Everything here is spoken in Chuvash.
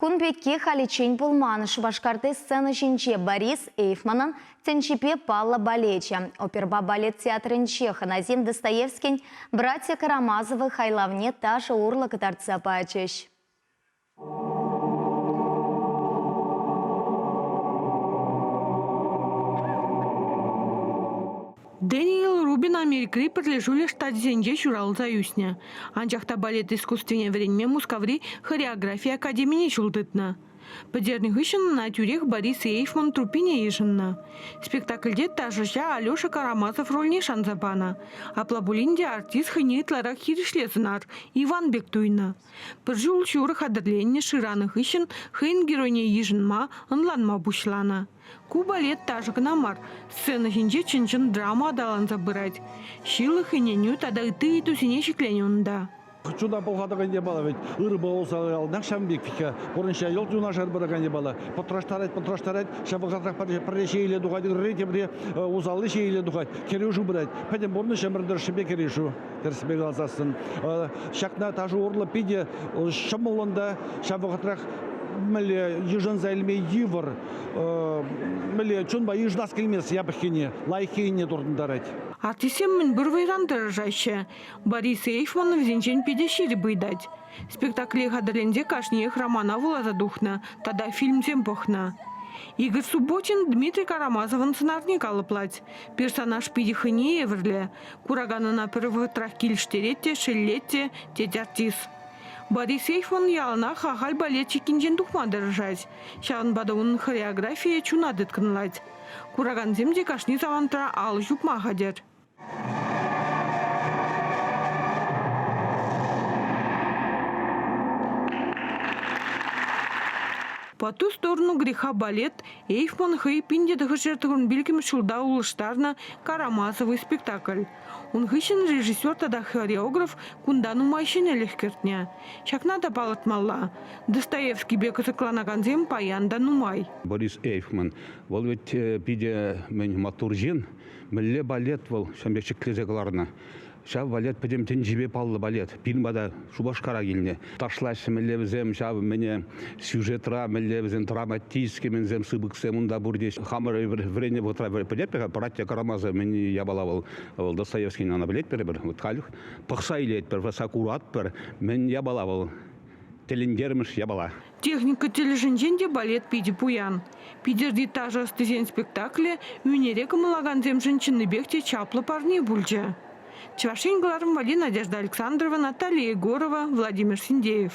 Кун пекки халиччен пулман. Шупашкарти сцена ҫинче Борис Эйфманӑн тӗнчипе паллӑ балечӗ. Оперӑпа балет театрӗнче Ханазин Достоевскин «Братья Карамазовы» хайлавне ташӑ урлӑ кӑтартса пачӗҫ. Дэниел Рубин Америкӑри Пӗрлешӳлӗх Штачӗсенче ҫуралса ӳснӗ, анчах та балет искусствине вӗренме Мускаври хореографи академине ҫул тытнӑ. Пӗтернӗ хыҫҫӑн ӑна тӳрех Борис Ейфман труппине йышӑннӑ. Спектакльте ташӑҫа Алеша Карамазов рольне шанса панӑ. Апла пулин те артист хӑйне ытларах хирӗҫле сӑнар Иван пек туйнӑ. Пӗр ҫул ҫурӑ хатӗрленнӗ шыранӑ хыҫҫӑн хӑйӗн геройне йышӑнма, ӑнланма пуҫланӑ. Ку балет ташӑ кӑна мар, сцена ҫинче чӑн-чӑн драма аталанса пырать. Ҫылӑх, ӗненӳ тата ытти ыйтусене ҫӗкленӗ унта. Чуна пӑлхатакан япала вӗт, ырӑпа усал яланах ҫавӑн пек вӗт-ха. Пурнӑҫра йӑлт юнашар пыракан япала. Пӑтраштарать, пӑтраштарать, ҫапӑлхасрах пӗрре ҫейӗле тухать, ырри тепри усалли ҫейӗле тухать, кӗрешӳ пырать. Пӗтӗм пурнӑҫ ӗмӗр тӑршшӗпе кӗрешӳ. тӗрӗсипе каласассӑн. Ҫакна ташӑ урлӑ питӗ ҫӑмӑллӑн та ҫав вӑхӑтрах мӗнле йышӑнса илме йывӑр, мӗнле чунпа йышӑнас килмест япӑххине, лайӑххине туртӑнтарать. Артистсем мӗнпур вӑйран тӑрӑшаҫҫӗ. Борис Эйфман вӗсенчен питӗ ҫирӗп ыйтать. Спектакле хатӗрленсе кашниех романа вуласа тухнӑ тата фильмсем пӑхнӑ. Игорь Субботин Дмитрий Карамазовӑн сӑнарне калӑплать. Персонаж питӗ хӑйне евӗрлӗ, Куракан ӑна пӗр вӑхӑтрах килӗштерет те, шеллет те, тет артист. Борисеевӑн яланах ахаль балетчикӗнчен тухма тӑрӑшать. Ҫавӑнпа та унӑн хореографийӗ чуна тыткӑнлать. Куракансем те кашни самантра алӑ ҫупма хатӗр. По ту сторону греха балет Эйфман хӑй пин тӑхӑршер тӑхӑр пилӗкмӗш ҫулта улӑштарнӑ «Карамазовый» спектакль. Ун хыҫҫӑн режиссер тата хореограф кунта нумай ҫӗнӗлӗх кӗртнӗ. Ҫакна та палӑртмалла: Достоевскипе кӑсӑкланакансем паян та нумай. Борис Эйфман вӑл вӗт питӗ мӗн маттур ҫын. Мӗнле балет вӑл ҫын пек ҫӗклесе кӑларнӑ. Ҫав балет пӗтӗм тӗнчипе паллӑ балет. Пирӗн пата Шупашкара килнӗ. Ташлаҫҫӗ мӗнлевсем ҫав мӗне сюжетра мӗнлевсем драматические мӗнсем сыпӑксем унта пур теҫ. Хамӑр вӗреннӗ вӑхӑтра пӗлетпӗр братья Карамазов мӗн япала вӑл вӑл Достоевскийн ана пӗлетпӗр вот халь пӑхса илетпӗр сакуратпӑр мӗн япала вӑл тӗлӗнтермӗш япала. Техника тӗлӗшӗнчен те балет питӗ пуян. Питӗрти ташӑ ӑстисен спектаклӗ ӳнере кӑмӑллакансемшӗн чӑннипех те чаплӑ парне пулчӗ. Чӑваш Ен кӑларӑмвӑлли Надежда Александрова, Наталья Егорова, Владимир Синдеев.